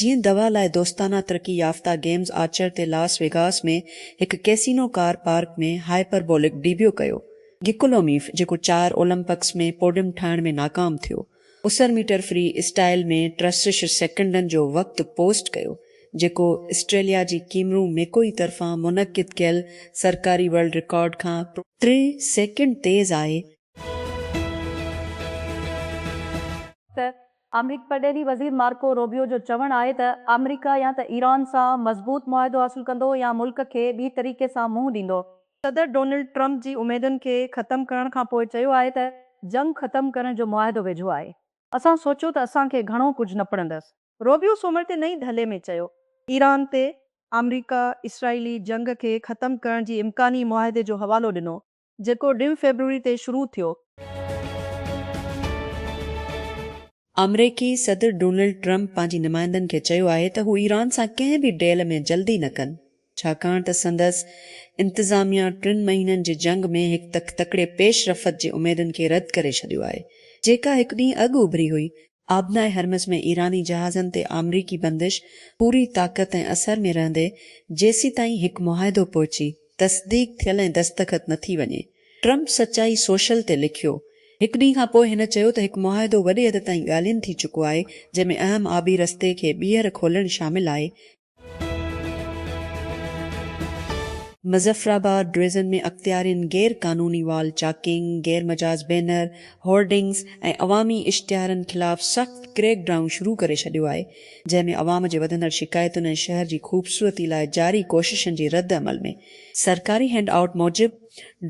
جيئن دوا لاء دوستانه ترقي يافته گيمز آرچر تي لاس ويگاس ۾ هڪ casino car park ۾ hyperbolic debut ڪيو، گڪولوميف جيڪو چار اولمپڪس ۾ پوڊيم ٺاهڻ ۾ ناڪام ٿيو، اسر ميٽر فري اسٽائيل ۾ ٽيسٽرشھ سيڪنڊن جو وقت پوسٽ ڪيو، جيڪو اسٽريليا جي ڪيمرون ميڪوئي طرفان منعقد ڪيل سرڪاري ورلڊ رڪارڊ کان ٽي سيڪنڊ تيز آهي. ته آمريڪي پرڏيهي وزير مارڪو روبيو جو چوڻ آهي ته آمريڪا يا ته ايران سان مضبوط معاهدو حاصل ڪندو يا ملڪ کي ٻي طريقي سان منهن ڏيندو. صدر ڊونلڊ ٽرمپ جي اميدن کي ختم ڪرڻ کان پوء چيو آهي ته جنگ ختم ڪرڻ جو معاهدو ويجهو آهي، اسان سوچيو ته اسان کي گهڻو ڪجهه نه پڙندس. روبيو سومر تي نئين دهلي ۾ چيو ايران تي آمريڪا اسرائيلي جنگ کي ختم ڪرڻ جي امڪاني معاهدي جو حوالو ڏنو جيڪو ڊين فيبروري تي شروع ٿيو. آمريڪي صدر ڊونلڊ ٽرمپ پنهنجي نمائندن کي چيو آهي ته هو ايران سان ڪنهن به ڊيل ۾ جلدي نه ڪن ڇاڪاڻ ته سندس انتظاميا ٽن مهينن جي جنگ ۾ هڪ تڪ تڪڙي پيش رفت جي اميدن کي رد ڪري ڇڏيو آهي جيڪا هڪ ڏينهن اڳ اڀري هئي آبناء هرمز ۾ ايراني جهازن تي آمريڪي بندش پوري طاقت ۽ اثر ۾ رهندي جيسيتائين هڪ معاهدو پهچي تصديق ٿيل ۽ دستخط نه ٿي وڃي. ٽرمپ سچائي سوشل تي لکيو. هڪ ڏينهن کان پوء هن چيو ته هڪ معاهدو وڏي حد تائين ڳالهين ٿي چڪو آهي جنهن ۾ اهم آبي رستي کي ٻيهر کولڻ شامل آهي مظفرآباد ڊويزن ۾ اختيارين غير قانوني وال چاڪنگ، غير مجاز بينر، هورڊنگز ۽ عوامي اشتهارن خلاف سخت ڪريڪ ڊائون شروع ڪري ڇڏيو آهي، جنهن ۾ عوام جي وڌندڙ شڪايتن ۽ شهر جي خوبصورتي لاء جاري ڪوششن جي رد عمل ۾، سرڪاري هينڊ آئوٽ موجب،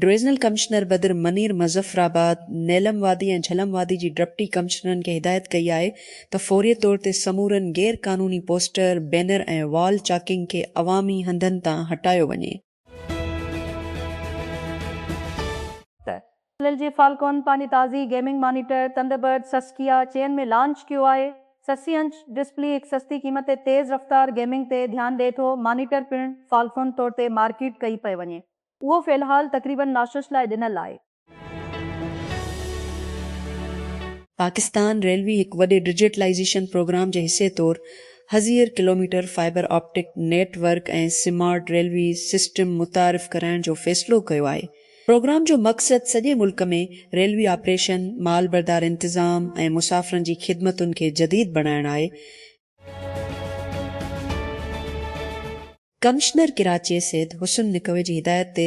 ڊويزنل ڪمشنر بدر منير مظفرآباد، نيلم وادي ۽ جھلم وادي جي ڊپٽي ڪمشنرن کي هدايت ڪئي آهي ته فوري طور تي سمورن غير قانوني پوسٽر، بينر ۽ وال چاڪنگ کي عوامي هنڌن تان هٽايو وڃي. ايل جي فالڪون پنهنجي تازي گيمنگ مانيٽر ٿنڊربرڊ سسڪيا چئن ۾ لانچ ڪيو آهي. سسي انچ ڊسپلي هڪ سستي قيمت تي تيز رفتار گيمنگ تي ڌيان ڏئي ٿو، مانيٽر پڻ فالڪون طور تي مارڪيٽ ڪئي پئي وڃي. اهو في الحال تقريبن ناشش لاء ڏنل آهي. پاڪستان ريلوي هڪ وڏي ڊجيٽلائيزيشن پروگرام جي حصي طور هزير kilometre fibre optic network ۽ smart railway system متعارف ڪرائڻ جو فيصلو ڪيو آهي. پروگرام جو مقصد سڄي ملڪ ۾ ريلوي آپريشن، مال بردار انتظام ۽ مسافرن جي خدمتن کي جديد بڻائڻ آهي. ڪمشنر ڪراچي سيد حسن نقوي جي هدايت تي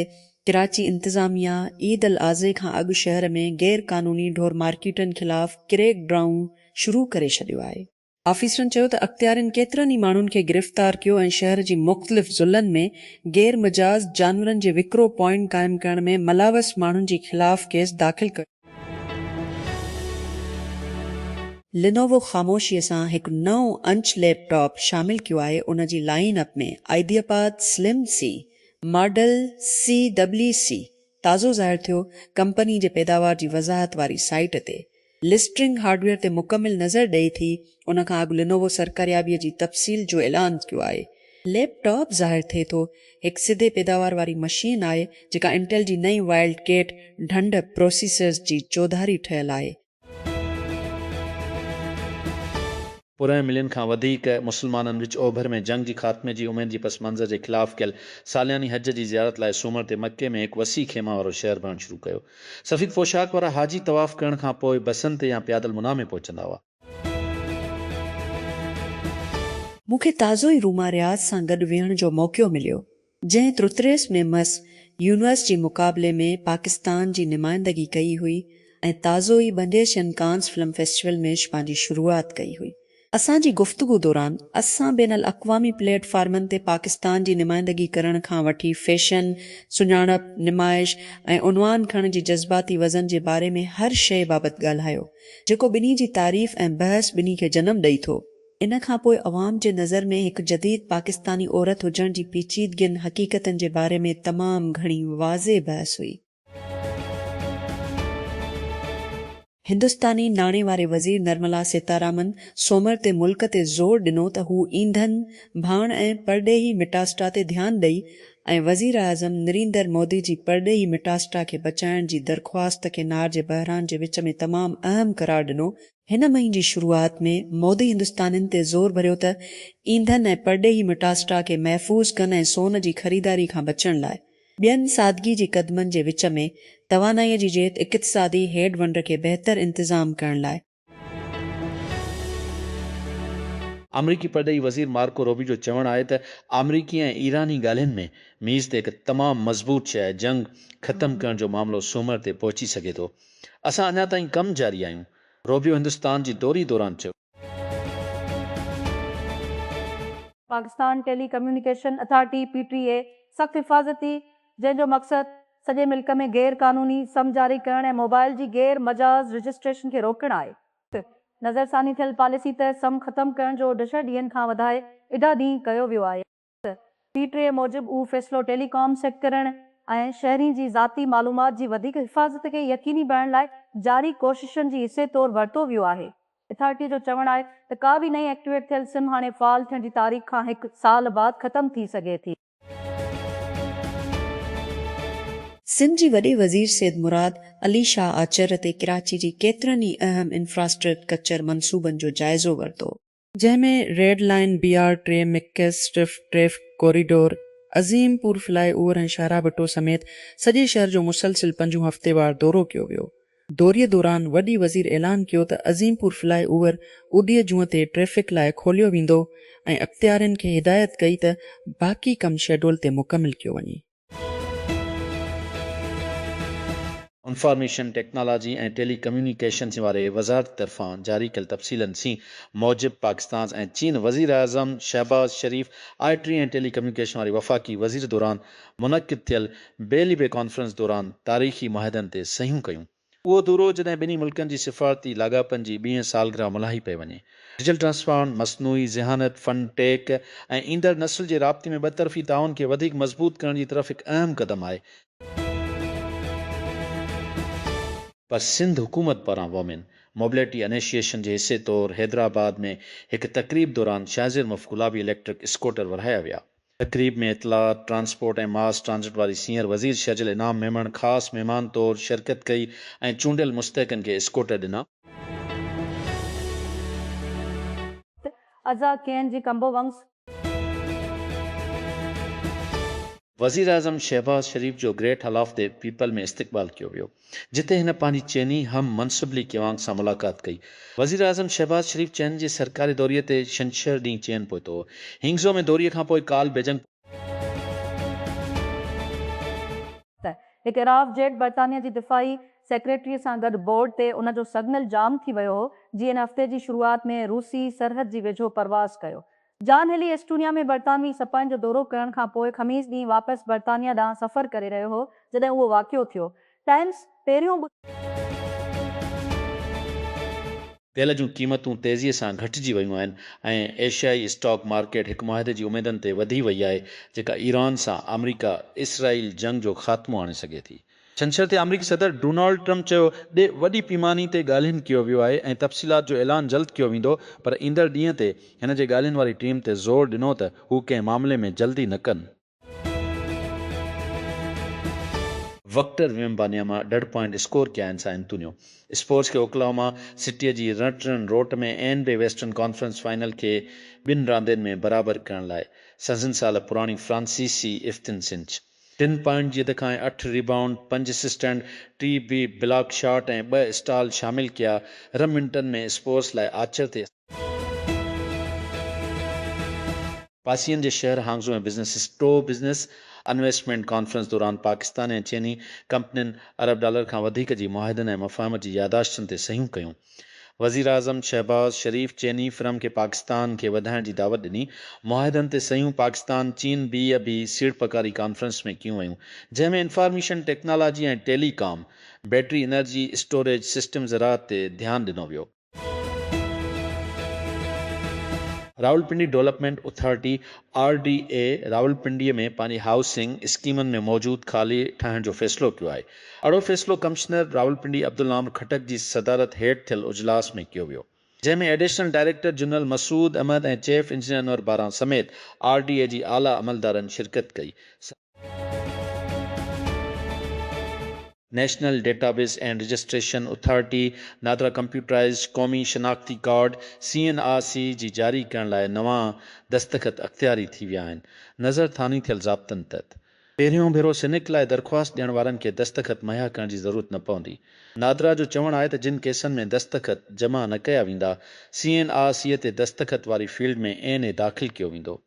ڪراچي انتظاميا عيد الاضحي کان اڳ شهر ۾ غير قانوني ڍور مارڪيٽن خلاف ڪريڪ ڊرائون شروع ڪري ڇڏيو آهي. آفيسرن چيو ته اختيارين ڪيترن ئي ماڻهن کي گرفتار ڪيو ۽ شهر جي مختلف ضلعن ۾ غير مجاز جانورن جي وڪرو پوائنٽ قائم ڪرڻ ۾ ملوث ماڻهن جي خلاف ڪيس داخل ڪيو. لينووو خاموشيء سان هڪ نئون انچ ليپ ٽاپ شامل ڪيو آهي، ان جي لائين اپ ۾ آئيدياپاد سلم سي ماڊل سي ڊبلي سي تازو ظاهر ٿيو، ڪمپني جي پيداوار جي وضاحت واري سائيٽ تي لسٽرنگ هارڊويئر تي مڪمل نظر ڏئي ٿي، ان کان اڳ لينوو سرڪاريابيء جي تفصيل جو اعلان ڪيو آهي. ليپ ٽاپ ظاهر ٿئي ٿو هڪ سڌي پيداوار واري مشين آهي جيڪا انٽيل جي نئين وائلڊ ڪيٽ ڍنڍ پروسيسرز جي چوڌاري ٺهيل آهي. پورهئين ملين کان وڌيڪ مسلمانن وچ اوڀر ۾ جنگ جي خاتمي جي اميد جي پس منظر جي خلاف ڪيل سالياني حج جي زيارت لاء سومر تي مڪي ۾ هڪ وسيع خيما وارو شهر بڻڻ شروع ڪيو. سفيد پوشاڪ وارا حاجي طواف ڪرڻ کان پوء بسن تي يا پيادل منا ۾ پهچندا هئا. مون کي تازو ئي روما رياض سان گڏ ويهڻ جو موقعو مليو، جنهن ترتريس ۾ مس يونيورس جي مقابلي ۾ پاڪستان جي نمائندگي ڪئي هئي ۽ تازو ئي بنديشن ڪانز فلم فيسٽيول ۾ پنهنجي شروعات ڪئي هئي. اسان جي گفتگو دوران اسان بين الاقوامي پليٽ فارمن تي پاڪستان جي نمائندگي ڪرڻ کان وٺي فيشن، سڃاڻپ، نمائش ۽ عنوان کڻڻ جي جذباتي وزن جي باري ۾ هر شيء بابت ڳالهايو. جيڪو ٻنهي جي تعريف ۽ بحث ٻنهي کي جنم ڏئي ٿو. ان کان پوء عوام جي نظر ۾ هڪ جديد پاڪستاني عورت هجڻ جي پيچيدگين حقيقتن جي باري ۾ تمام گهڻي واضح بحث هئي. هندستاني ناڻي واري وزير نرملا سيتارامن سومر تي ملڪ تي زور ڏنو ته هو اينڌن، ڀاڻ ۽ پرڏيهي مٽاسٽا تي ڌيان ڏئي ۽ وزيراعظم نريندر مودي جي پرڏيهي مٽاسٽا کي بچائڻ جي درخواست کي نار جي بحران جي وچ ۾ تمام اهم قرار ڏنو، هن مهين جي شروعات ۾ مودي هندستانين تي زور ڀريو ته اينڌن ۽ پرڏيهي مٽاسٽا کي محفوظ ڪن ۽ سون جي خريداري کان بچڻ لاء ٻين سادگي جي قدمن جي وچ ۾ توانائي جي جيت اقتصادي هيڊ ونڊ کي بهتر انتظام ڪرڻ لاء آمريڪي پرڏيهي وزير مارڪو روبيو جو چوڻ آهي ته آمريڪي ۽ ايراني ڳالهين ۾ ميز تي هڪ تمام مضبوط شيء جنگ ختم ڪرڻ جو معاملو سومر تي پهچي سگهي ٿو. اسان اڃا تائين ڪم جاري آهيون، روبيو هندستان جي دوري دوران چيو. Pakistan telecommunication authority, P T A, سخت حفاظتي جنهن جو مقصد سڄي ملڪ ۾ غير قانوني سم جاري ڪرڻ ۽ موبائل جي غير مجاز رجسٽريشن کي روڪڻ آهي. نظرثاني ٿيل پاليسي تحت سم ختم ڪرڻ جو ڊھ ڏينهن کان وڌائي اڍا ڏينهن ڪيو ويو آهي. پي ٽي اي موجب اهو فيصلو ٽيلي ڪام سيڪٽرن ۽ شهرين جي ذاتي معلومات جي وڌيڪ حفاظت کي يقيني بڻائڻ لاء جاري ڪوششن جي حصي طور ورتو ويو آهي. اٿارٽي جو چوڻ آهي ته ڪا به نئين ايڪٽيويٽ ٿيل سم هاڻي فعال ٿيڻ جي تاريخ کان هڪ سال بعد ختم ٿي سگهي ٿي. سنڌ جي وڏي وزير سيد مراد علي شاهه آچر تي ڪراچي جي ڪيترن ئي اهم انفراسٽرڪچر منصوبن جو جائزو ورتو، جنهن ۾ red line, B R T, مڪيس strip, traffic corridor, Azimpur fly over ۽ شاهراهه ڀٽو سميت سڄي شهر جو مسلسل پنجون هفتيوار دورو ڪيو ويو. دوري دوران وڏي وزير اعلان ڪيو ته عظيم پور فلاء اوور اڏيء جونء تي ٽريفڪ لاء کوليو ويندو ۽ اختيارين کي هدايت ڪئي ته باقي ڪم شيڊول تي مڪمل ڪيو وڃي. انفارميشن ٽيڪنالاجي ۽ ٽيلي ڪميونيڪيشنز واري وزارت طرفان جاري ڪيل تفصيلن سين موجب پاڪستانز ۽ چين وزيراعظم Shahbaz Sharif I T ۽ telecommunication واري وفاقي وزير دوران منعقد ٿيل بي ليبي ڪانفرنس دوران تاريخي معاهدن تي صحيحون ڪيون. اهو دورو جڏهن ٻنهي ملڪن جي سفارتي لاڳاپن جي ٻيهين سالگرهه ملهائي پئي وڃي. ڊجيٽل ٽرانسفارم، مصنوعي ذهانت، فن ٽيڪ ۽ ايندڙ نسل جي رابطي ۾ ٻه طرفي تعاون کي وڌيڪ مضبوط ڪرڻ جي طرف هڪ اهم قدم آهي. پر سنڌ حڪومت پاران وومين موبليٽي انيشيئيشن جي حصي طور حيدرآباد ۾ هڪ تقريب دوران شاهزير مف گلابي اليڪٽرڪ اسڪوٽر ورهايا ويا. تقريب ۾ اطلاعات، ٽرانسپورٽ ۽ ماس ٽرانزٽ واري سينئر وزير شھجل انعام ميمڻ خاص مھمان طور شرڪت ڪئي ۽ چونڊيل مستحقن کي اسڪوٽر ڏنا. ازا ڪين جي ڪمبو ونگس. وزيراعظم شهباز شريف جو great hall of the people ۾ استقبال ڪيو ويو. جتي هن پنهنجي چيني هم منصب لي ڪيوانگ سان ملاقات ڪئي. وزيراعظم شهباز شريف چين جي سرڪاري دوري تي ڇنڇر ڏينهن چين پهتو هو. هينگزو ۾ دوري کان پوء ڪالهه بيجنگ پهتو. ته هڪ اراف جيٽ برطانيا جي دفاعي سيڪريٽري سان گڏ بورڊ تي ان جو سگنل جام ٿي ويو هو جي ان هفتي جي شروعات ۾ روسي سرحد جي ويجهو پرواز ڪيو جان هيلي ايسٽونيا ۾ برطانوي سپاهين جو دورو ڪرڻ کان پوء خميس ڏينهن واپس برطانيا ڏانهن سفر ڪري رهيو هو، جڏهن اهو واقعو ٿيو. ٽائمز پهريون. تيل جون قيمتون تيزيء سان گهٽجي ويون آهن ۽ ايشيائي اسٽاڪ مارڪيٽ هڪ معاهدي جي اميدن تي وڌي وئي آهي، جيڪا ايران سان آمريڪا اسرائيل جنگ جو خاتمو آڻي سگهي ٿي. ڇنڇر تي آمريڪي صدر ڊونالڊ ٽرمپ چيو ته وڏي پيماني تي ڳالهين ڪيو ويو آهي ۽ تفصيلات جو اعلان جلد ڪيو ويندو پر ايندڙ ڏينهن تي هن جي ڳالهين واري ٽيم تي زور ڏنو ته هو ڪنهن معاملي ۾ جلدي نه ڪن. وڪٽر ويمبانياما ڏھه پوائنٽ اسڪور ڪيا آھن سائن انتونيو اسپورس کي اوڪلاھوما سٽيء جي رنٽ رن روٽ ۾ N B western conference final کي ٻن راندين ۾ برابر ڪرڻ لاء سنزن سال پراڻي فرانسيسي افتن سنچ ٽن پوائنٽ جي اڌ کانئن اٺ ريبائونڊ، پنج اسسٽنٽ، ٽي بي بلاڪ شاٽ ۽ ٻه اسٽال شامل ڪيا، رم منٽن ۾ اسپورس لاء آچر تي. پاسين جي شهر هانگزو ۾ بزنس اسٽو بزنس انويسٽمينٽ ڪانفرنس دوران پاڪستان ۽ چيني ڪمپنين ارب ڊالر کان وڌيڪ جي معاهدن ۽ مفاهمت جي ياداشتن تي صحيحون ڪيون. وزيراعظم شهباز شريف چيني فرم کي پاڪستان کي وڌائڻ جي دعوت ڏني، معاهدن تي صحيحون پاڪستان چين بي اي بي سيڙپڪاري ڪانفرنس ۾ ڪيون ويون، جنهن ۾ انفارميشن ٽيڪنالاجي ۽ ٽيلي ڪام، بيٽري انرجي اسٽوريج سسٽم زراعت تي ڌيان ڏنو ويو. Rawalpindi development authority, R D A, Rawalpindi ۾ پنهنجي هائوسنگ اسڪيمن ۾ موجود خالي ٺاهڻ جو فيصلو ڪيو آهي، اھڙو فيصلو ڪمشنر راولپنڊي عبدالنام خٽڪ جي صدارت ھيٺ ٿيل اجلاس ۾ ڪيو ويو جنھن ۾ additional director general Masood Ahmed ۽ chief engineer Anwar Baran سميت آر ڊي اي جي اعليٰ عملدارن شرڪت ڪئي. National database and registration authority NADRA computerized قومي شناختي card, C N R C, جي جاري ڪرڻ لاء نوان دستخط اختياري ٿي ويا آھن. نظرثاني ٿيل ضابطن تحت پهريون ڀيرو سنيڪ لاء درخواست ڏيڻ وارن کي دستخط مهيا ڪرڻ جي ضرورت نه پوندي. نادرا جو چوڻ آهي ته جن ڪيسن ۾ دستخط جمع نه ڪيا ويندا، سي اين آء سي تي دستخط واري فيلڊ ۾ اين اي داخل ڪيو ويندو.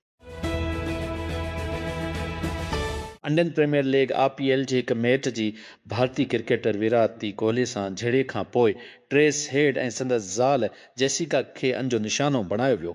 Indian premier league, I P L, جي هڪ ميٽ جي ڀارتي ڪرڪيٽر ويرات تي ڪوهلي سان جهيڙي کانپوء ٽريس هيڊ ۽ سندس زال جيسيڪا کي ان جو نشانو بڻايو ويو.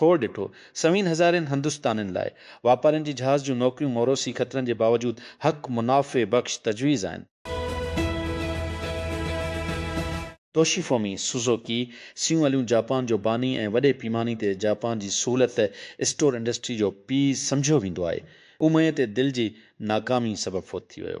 کور ڏٺو. سوين هزارين هندستانين لاء واپارين جي جهاز جون نوڪريون موروثي خطرن جي باوجود حق منافع بخش تجويز آهن. Toshifumi Suzuki, seven eleven Japan جو باني ۽ وڏي پيماني تي جاپان جي سهولت اسٽور انڊسٽري جو پيء سمجهيو ويندو آهي. اهو مئي تي دل جي ناڪامي سبب فوت ٿي ويو.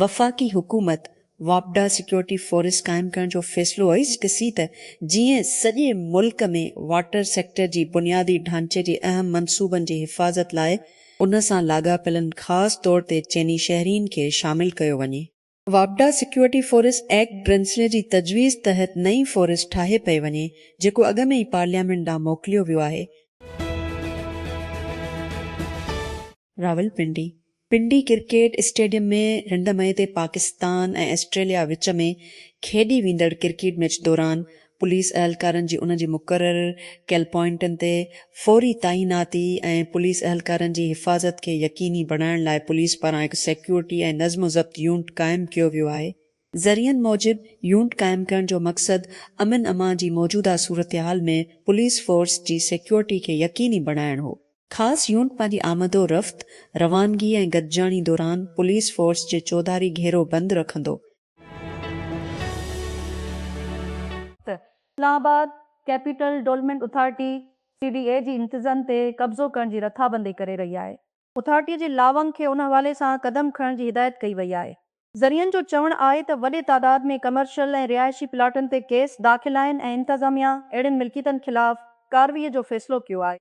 وفاقي حڪومت واپڊا سيڪيورٽي فورس قائم ڪرڻ جو فيصلو اهوئي ڏسي ته جيئن سڄي ملڪ ۾ واٽر سيڪٽر جي بنيادي ڍانچي جي اهم منصوبن جي حفاظت لاء ان سان لاڳاپيلن خاص طور تي چيني شهرين کي شامل ڪيو وڃي. واپڊا سيڪيورٽي فورس ايڪٽ برنسلي جي تجويز تحت نئين فورس ٺاهي پئي وڃي جيڪو اڳ ۾ ئي پارليامينٽ ڏانهن موڪليو ويو آهي. راولپنڊي، پنڊي ڪرڪيٽ اسٽيڊيم ۾ رنڊ مئي تي پاڪستان ۽ آسٽريليا وچ ۾ کيڏي ويندڙ ڪرڪيٽ ميچ دوران پوليس اهلڪارن جي ان جي مقرر ڪيل پوائنٽن تي فوري تعيناتي ۽ پوليس اهلڪارن جي حفاظت کي يقيني بڻائڻ لاء پوليس پاران هڪ سيڪيورٽي ۽ نظم و ضبط يونٽ قائم ڪيو ويو آهي. ذريعن موجب يونٽ قائم ڪرڻ جو مقصد امن امان جي موجوده صورتحال ۾ پوليس فورس جي سيڪيورٽي کي يقيني بڻائڻ هو. خاص يونٽ پنهنجي آمد و رفت، روانگي ۽ گڏجاڻي دوران پوليس فورس جي چوڌاري گهيرو بند رکندو، ته Islamabad capital development authority, C D A, جي امتزن تي قبضو ڪرڻ جي رٿابندي ڪري رهي آهي. اٿارٽيء جي لائونگ کي ان حوالي سان قدم کڻڻ جي هدايت ڪئي وئي آهي. ذريعن جو چوڻ آهي ته وڏي تعداد ۾ ڪمرشل ۽ رهائشي پلاٽن تي ڪيس داخل آهن ۽ انتظاميا اهڙين ملڪيتن خلاف ڪاروئي جو فيصلو ڪيو آهي.